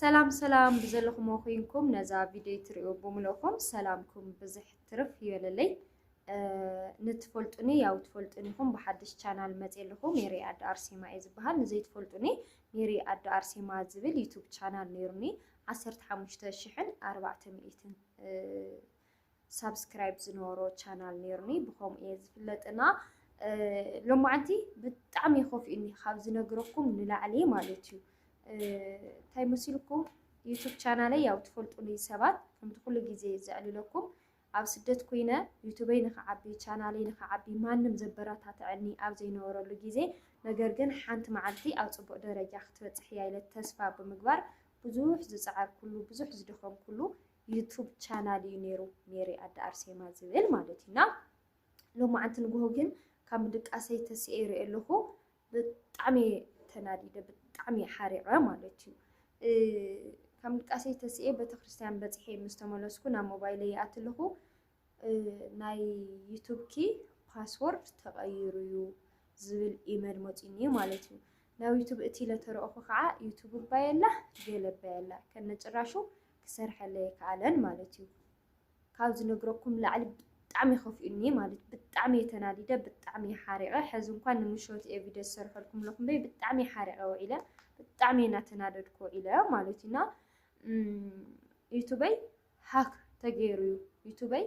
ሰላም ሰላም ብዘለኹሞ ኮይንኩም ነዛ ቪድዮ ትሪኡ ብምልእኹም ሰላምኩም ብዝሕ ትርፍ ይበለለይ። ንትፈልጡኒ ያው ትፈልጡኒ ኢኹም ብሓድሽ ቻናል መፅ ኣለኹ ሜሪ ኣደ ኣርሴማ እየ ዝበሃል ንዘይትፈልጡኒ ሜሪ ኣደ ኣርሴማ ዝብል ዩቱብ ቻናል ነይሩኒ ዓሰርተ ሓሙሽተ ሽሕን ኣርባዕተ ሚእትን ሳብስክራይብ ዝነበሮ ቻናል ነይሩኒ ብከምኡ እየ ዝፍለጥና ሎማዓንቲ ብጣዕሚ ኮፍኡኒ ካብ ዝነግረኩም ንላዕሊ ማለት እዩ እንታይ መሲልኩም ዩቱብ ቻናለይ ያው ትፈልጡኒ ሰባት ከምቲ ኩሉ ግዜ ዘዕልለኩም ኣብ ስደት ኮይነ ዩቱበይ ንክዓቢ ቻናለይ ንክዓቢ ማንም ዘበረታትዐኒ ኣብ ዘይነበረሉ ግዜ ነገር ግን ሓንቲ መዓልቲ ኣብ ፅቡቅ ደረጃ ክትበፅሕ እያ ኢለ ተስፋ ብምግባር ብዙሕ ዝፀዓርኩሉ ብዙሕ ዝደኸምኩሉ ዩቱብ ቻናል እዩ ነይሩ ሜሪ ኣደ ኣርሴማ ዝብል ማለት እዩ እና ሎማዓንቲ ንግሆ ግን ካብ ምድቃሰይ ተሲኤ ይሪኦ ኣለኹ ብጣዕሚ ተናዲደ ብጣዕሚ ሓሪቐ ማለት እዩ ካብ ምድቃሰይ ተሲኤ ቤተክርስትያን በፂሐ ምስ ተመለስኩ ናብ ሞባይለይ ይኣቲ ኣለኹ ናይ ዩቱብኪ ፓስወርድ ተቐይሩ እዩ ዝብል ኢመል መፂኒ እዩ ማለት እዩ ናብ ዩቱብ እቲ ለተረእኹ ከዓ ዩቱብ ባየላ ገለ ባየላ ከነጭራሹ ክሰርሐለይ ኣይከኣለን ማለት እዩ። ካብ ዝነግረኩም ንላዕሊ ብጣዕሚ ከፊኡኒ እየ ማለት ብጣዕሚ እየ ተናዲደ ብጣዕሚ እየ ሓሪቐ ሕዚ እንኳን ንምሾት እየ ቪድዮ ዝሰርሐልኩም ኣለኹ እምበይ ብጣዕሚ እየ ሓሪቐ ውዒለ ብጣዕሚ እየ እናተናደድኩ ውዒለ ማለት እዩ እና ዩቱበይ ሃክ ተገይሩ እዩ ዩቱበይ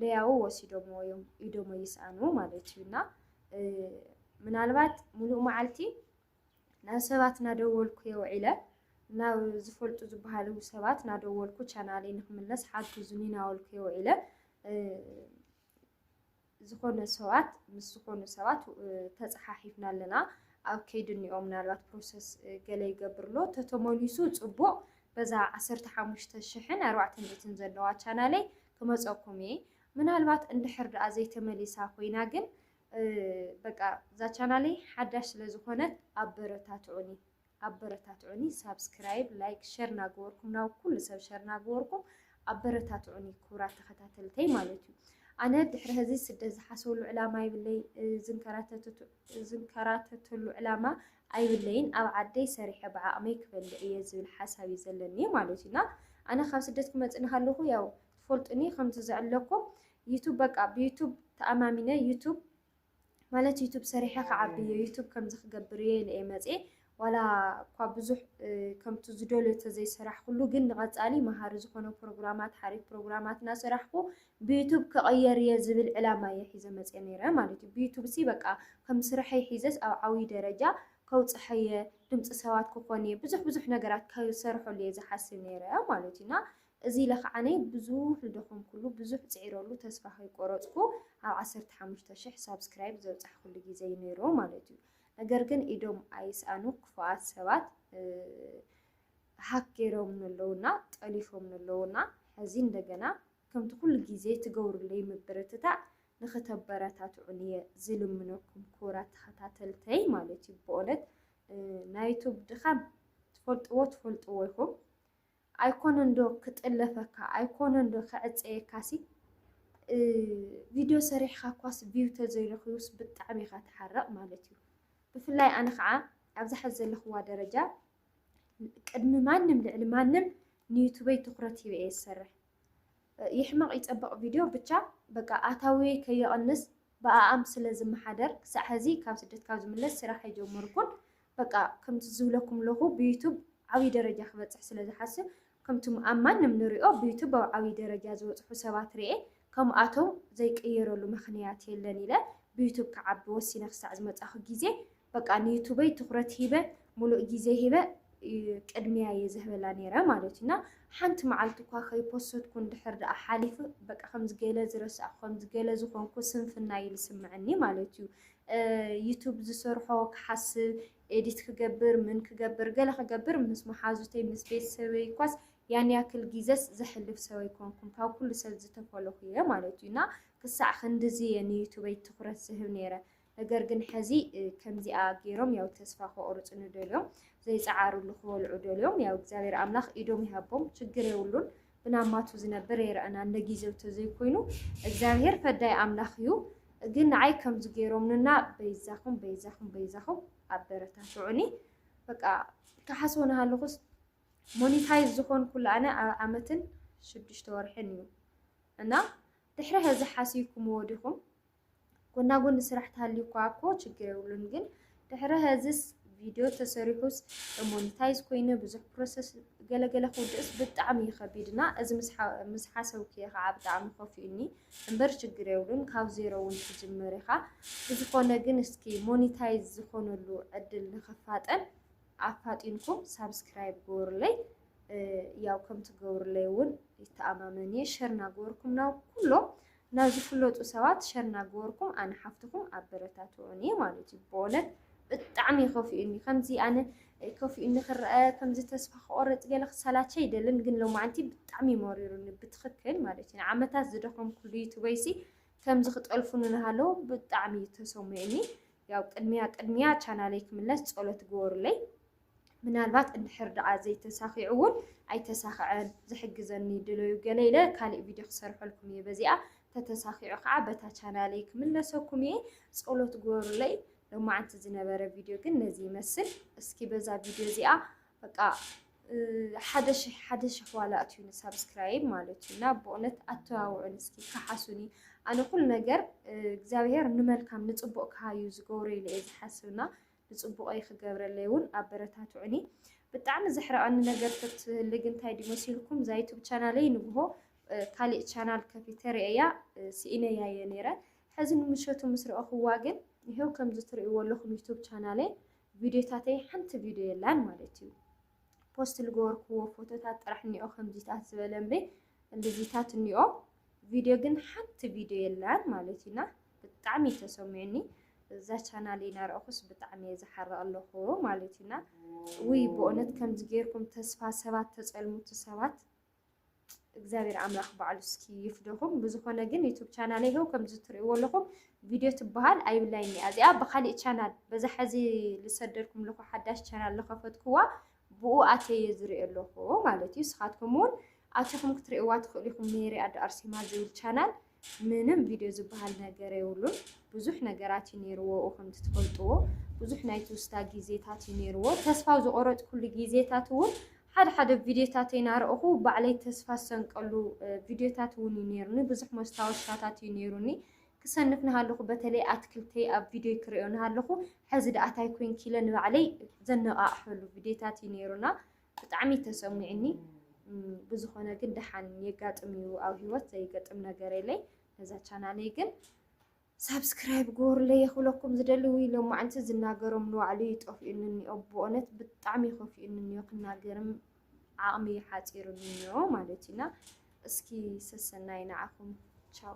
ለያው ወሲዶምዎ እዮም ኢዶሞ ይስኣኑ ማለት እዩ እና ምናልባት ሙሉእ መዓልቲ ናብ ሰባት ናደወልኩ እየ ውዒለ። ናብ ዝፈልጡ ዝበሃሉ ሰባት ናደወልኩ ቻናለይ ንክምለስ ሓግዙኒ ናበልኩ እየ ውዒለ። ዝኾነ ሰባት ምስ ዝኾኑ ሰባት ተፀሓሒፍና ኣለና ኣብ ከይዲ እኒኦ ምናልባት ፕሮሰስ ገለ ይገብር ኣሎ ተተመሊሱ ፅቡቕ በዛ ዓሰርተ ሓሙሽተ ሽሕን ኣርባዕተ ሚእትን ዘለዋ ቻናለይ ክመፀኩም እየ ምናልባት እንድሕር ደኣ ዘይተመሊሳ ኮይና ግን በቃ እዛ ቻናለይ ሓዳሽ ስለ ዝኾነት ኣበረታትዑኒ ኣበረታትዑኒ ሳብስክራይብ ላይክ ሸር ናገበርኩም ናብ ኩሉ ሰብ ሸር ናገበርኩም ኣበረታትዑኒ ክቡራት ተኸታተልተይ ማለት እዩ ኣነ ድሕሪ ህዚ ስደት ዝሓሰብሉ ዕላማ ይብለይ ዝንከራተተሉ ዕላማ ኣይብለይን ኣብ ዓደይ ሰሪሐ ብዓቕመይ ክበልዕ እየ ዝብል ሓሳብ እዩ ዘለኒ ማለት እዩና ኣነ ካብ ስደት ክመፅእ ንሃለኹ ያው ትፈልጡኒ ከምቲ ዝዕለኩም ዩቱብ በቃ ብዩቱብ ተኣማሚነ ዩቱብ ማለት ዩቱብ ሰሪሐ ክዓቢ እየ ዩቱብ ከምዚ ክገብር እየ ኢለ እየ መፅየ ዋላ እኳ ብዙሕ ከምቲ ዝደልዮ ተዘይሰራሕኩሉ ግን ንቐፃሊ መሃሪ ዝኾነ ፕሮግራማት ሓሪፍ ፕሮግራማት እናሰራሕኩ ብዩቱብ ክቐየር እየ ዝብል ዕላማ እየ ሒዘ መፅየ ነይረ ማለት እዩ ብዩቱብ ሲ በቃ ከም ስርሐይ ሒዘስ ኣብ ዓብዪ ደረጃ ከውፅሐ እየ ድምፂ ሰባት ክኾን እየ ብዙሕ ብዙሕ ነገራት ክሰርሐሉ እየ ዝሓስብ ነይረ ማለት እዩ እና እዚ ኢለ ከኣ ኣነ ብዙሕ ዝደኸምኩሉ ብዙሕ ጽዒረሉ ተስፋ ከይቆረጽኩ ኣብ ዓሰርተ ሓሙሽተ ሽሕ ሳብስክራይብ ዘብጻሕኩሉ ግዜ እዩ ነይሩ ማለት እዩ ነገር ግን ኢዶም ኣይስኣኑ ክፉኣት ሰባት ሃክ ገይሮም ነለውና ጠሊፎም ነለውና ሕዚ እንደገና ከምቲ ኩሉ ግዜ ትገብሩለይ ምብርትታዕ ንክተበረታትዑን እየ ዝልምነኩም ክቡራት ተኸታተልተይ ማለት እዩ ብእውነት ናይ ዩቱብ ድኻም ትፈልጥዎ ትፈልጥዎ ኢኹም ኣይኮነንዶ ክጥለፈካ ኣይኮነንዶ ክዕጸየካሲ ቪድዮ ሰሪሕኻ እኳስ ቪው ተዘይረኺቡስ ብጣዕሚ ኢኻ ትሓርቕ ማለት እዩ። ብፍላይ ኣነ ከዓ ኣብዛ ሕዚ ዘለኹዋ ደረጃ ቅድሚ ማንም ልዕሊ ማንም ንዩቱበይ ትኹረት ሂበ እየ ዝሰርሕ። ይሕመቕ ይፀበቕ ቪድዮ ብቻ በቃ ኣታዊየይ ከየቕንስ ብኣኣም ስለ ዝመሓደር ክሳዕ ሀዚ ካብ ስደት ካብ ዝምለስ ስራሕ ኣይጀመርኩን በቃ ከምቲ ዝብለኩም ለኹ ብዩቱብ ዓብይ ደረጃ ክበፅሕ ስለ ዝሓስብ ከምቲ ኣብ ማንም ንሪኦ ብዩቱብ ኣብ ዓብይ ደረጃ ዝበፅሑ ሰባት ሪኤ ከምኣቶም ዘይቅየረሉ ምኽንያት የለን ኢለ ብዩቱብ ክዓቢ ወሲነ ክሳዕ ዝመፃኹ ግዜ በቃ ንዩቱበይ ትኹረት ሂበ ሙሉእ ግዜ ሂበ ቅድሚያ እየ ዝህበላ ነይረ ማለት እዩ እና ሓንቲ መዓልቲ እኳ ከይፖሰትኩ እንድሕር ደኣ ሓሊፉ በቃ ከምዚ ገለ ዝረሳዕኩ ከምዚ ገለ ዝኾንኩ ስንፍና እዩ ዝስምዐኒ ማለት እዩ ዩቱብ ዝሰርሖ ክሓስብ ኤዲት ክገብር ምን ክገብር ገለ ክገብር ምስ መሓዙተይ ምስ ቤተሰበይ እኳስ ያን ያክል ግዘስ ዘሕልፍ ሰብ ኣይኮንኩም ካብ ኩሉ ሰብ ዝተፈለኹ እየ ማለት እዩ እና ክሳዕ ክንድዚ እየ ንዩቱበይ ትኩረት ዝህብ ነይረ ነገር ግን ሐዚ ከምዚኣ ገይሮም ያው ተስፋ ከቁርፅኒ ደልዮም ዘይፀዓርሉ ክበልዑ ደልዮም ያው እግዚኣብሔር ኣምላኽ ኢዶም ይሃቦም ችግር የብሉን ብናማቱ ዝነብር የረእና እንደ ጊዜው ተዘይኮይኑ እግዚኣብሔር ፈዳይ ኣምላኽ እዩ ግን ንዓይ ከምዚ ገይሮምንና በይዛኹም በይዛኹም በይዛኹም ኣበረታትዑኒ በቃ ክሓስቦ ናሃለኹስ ሞኒታይዝ ዝኾንኩሉ ኣነ ኣብ ዓመትን ሽዱሽተ ወርሕን እዩ እና ድሕሪ ሕዚ ሓሲብኩምዎ ዲኹም ጎና ጎኒ ስራሕ ተሃልዩኳ እኮ ችግር የብሉን ግን ድሕሪ ሀዝስ ቪድዮ ተሰሪሑስ ሞኒታይዝ ኮይነ ብዙሕ ፕሮሰስ ገለገለ ክውድእስ ብጣዕሚ እዩ ከቢድ እና እዚ ምስ ሓሰብኩየ ከዓ ብጣዕሚ ከፊኡኒ እምበር ችግር የብሉን ካብ ዜሮ እውን ትጅምር ኢኻ ብዝኾነ ግን እስኪ ሞኒታይዝ ዝኾነሉ ዕድል ንክፋጠን ኣፋጢንኩም ሳብስክራይብ ግበሩለይ ያው ከም ትገብሩለይ እውን ይተኣማመን እየ ሸር እናገበርኩም ናብ ኩሎም ናብ ዝፍለጡ ሰባት ሸር ናገበርኩም ኣነ ሓፍትኩም ኣበረታትዑኒ ማለት እዩ በእውነት ብጣዕሚ እዩ ከፊኡኒ ከምዚ ኣነ ከፊኡኒ ክረኣ ከምዚ ተስፋ ክቆርፅ ገለ ክሰላቸ ኣይደልን ግን ሎማዓንቲ ብጣዕሚ እዩ መሪሩኒ ብትክክል ማለት እዩ ንዓመታት ዝደከምኩሉ ዩቱበይሲ ከምዚ ክጠልፉኒ ናሃለው ብጣዕሚ እዩ ተሰሚዑኒ ያው ቅድሚያ ቅድሚያ ቻናለይ ክምለስ ፀሎት ግበሩለይ ምናልባት እንድሕር ደኣ ዘይተሳኺዑ ውን ኣይተሳኸዐን ዝሕግዘኒ ድለዩ ገለ ኢለ ካሊእ ቪድዮ ክሰርሐልኩም እየ በዚኣ ተተሳኺዑ ከዓ በታ ቻናለይ ክምለሰኩም እየ ጸሎት ግበሩለይ ሎማዓንቲ ዝነበረ ቪድዮ ግን ነዚ ይመስል እስኪ በዛ ቪድዮ እዚኣ በቃ ሓደ ሽሕ ሓደ ሽሕ ዋላ ኣትዩኒ ሳብስክራይብ ማለት እዩ እና ብእውነት ኣተዋውዑን እስኪ ከሓሱኒ ኣነ ኩሉ ነገር እግዚኣብሄር ንመልካም ንፅቡቅ ክሃዩ ዝገብሩ ኢለ እየ ዝሓስብና ብጽቡቀይ ክገብረለይ እውን ኣበረታትዑኒ። ብጣዕሚ ዘሕርቀኒ ነገር ተትህሊ ግን እንታይ ድዩ መሲልኩም እዛ ዩቱብ ቻናለይ ንግሆ ካሊእ ቻናል ከፊተ ርእየያ ስኢነያ እየ ነይረ ሕዚ ንምሸቱ ምስ ረኣኹዋ ግን ይሄው ከምዚ ትርእይዎ ኣለኹም ዩቱብ ቻናለይ ቪድዮታተይ ሓንቲ ቪድዮ የላን ማለት እዩ ፖስት ዝገበርክዎ ፎቶታት ጥራሕ እኒኦ ከምዚታት ዝበለ እምበይ እንደዚታት እኒኦ ቪድዮ ግን ሓንቲ ቪድዮ የላን ማለት እዩና ብጣዕሚ እዩ ተሰሚዑኒ እዛ ቻናል እናረእኹስ ብጣዕሚ እየ ዝሓርቕ ኣለኹ ማለት እዩና ውይ ብእውነት ከምዚ ጌርኩም ተስፋ ሰባት ተፀልሙቲ ሰባት እግዚኣብሔር ኣምላኽ ባዕሉ እስኪ ይፍደኹም። ብዝኾነ ግን ዩቱብ ቻናል ይኸው ከምዚ ትርእይዎ ኣለኹም ቪድዮ ትበሃል ኣይብላይን እያ እዚኣ ብካሊእ ቻናል በዛ ሕዚ ዝሰደድኩም ለኹ ሓዳሽ ቻናል ዝኸፈትኩዋ ብኡ ኣትየዮ ዝሪኦ ኣለኹ ማለት እዩ። ንስኻትኩም እውን ኣቲኹም ክትሪእዋ ትኽእሉ ኢኹም። ሜሪ ኣዶ ኣርሴማ ዝብል ቻናል ምንም ቪድዮ ዝበሃል ነገር የብሉን። ብዙሕ ነገራት እዩ ነይርዎ ከምቲ ትፈልጥዎ ብዙሕ ናይ ትውስታ ግዜታት እዩ ነይርዎ። ተስፋ ዝቆረፅኩሉ ግዜታት እውን ሓደ ሓደ ቪድዮታት እናረእኹ ባዕለይ ተስፋ ዝሰንቀሉ ቪድዮታት እውን እዩ ነይሩኒ። ብዙሕ መስታወሻታት እዩ ነይሩኒ። ክሰንፍ ናሃለኹ በተለይ ኣትክልተይ ኣብ ቪድዮይ ክርእዮ ናሃለኹ ሐዚ ዳኣ ታይ ኮይንኪ ኢለ ንባዕለይ ዘነቓቕሐሉ ቪድዮታት እዩ ነይሩ እና ብጣዕሚ ተሰሚዑኒ ብዝኾነ ግን ዳሓን የጋጥም እዩ ኣብ ሂወት ዘይገጥም ነገር የለይ ነዛ ቻናለይ ግን ሳብስክራይብ ግበሩለይ የኽብለኩም ዝደሊ ውይ ሎማዓንቲ ዝናገሮም ንባዕሉ ይጠፍኡኒ እኒኦ ብእውነት ብጣዕሚ ይኸፍኡኒ እኒኦ ክናገርም ዓቕሚ ሓፂሩኒ እኒኦ ማለት እዩና እስኪ ሰሰናይ ንዓኹም ቻው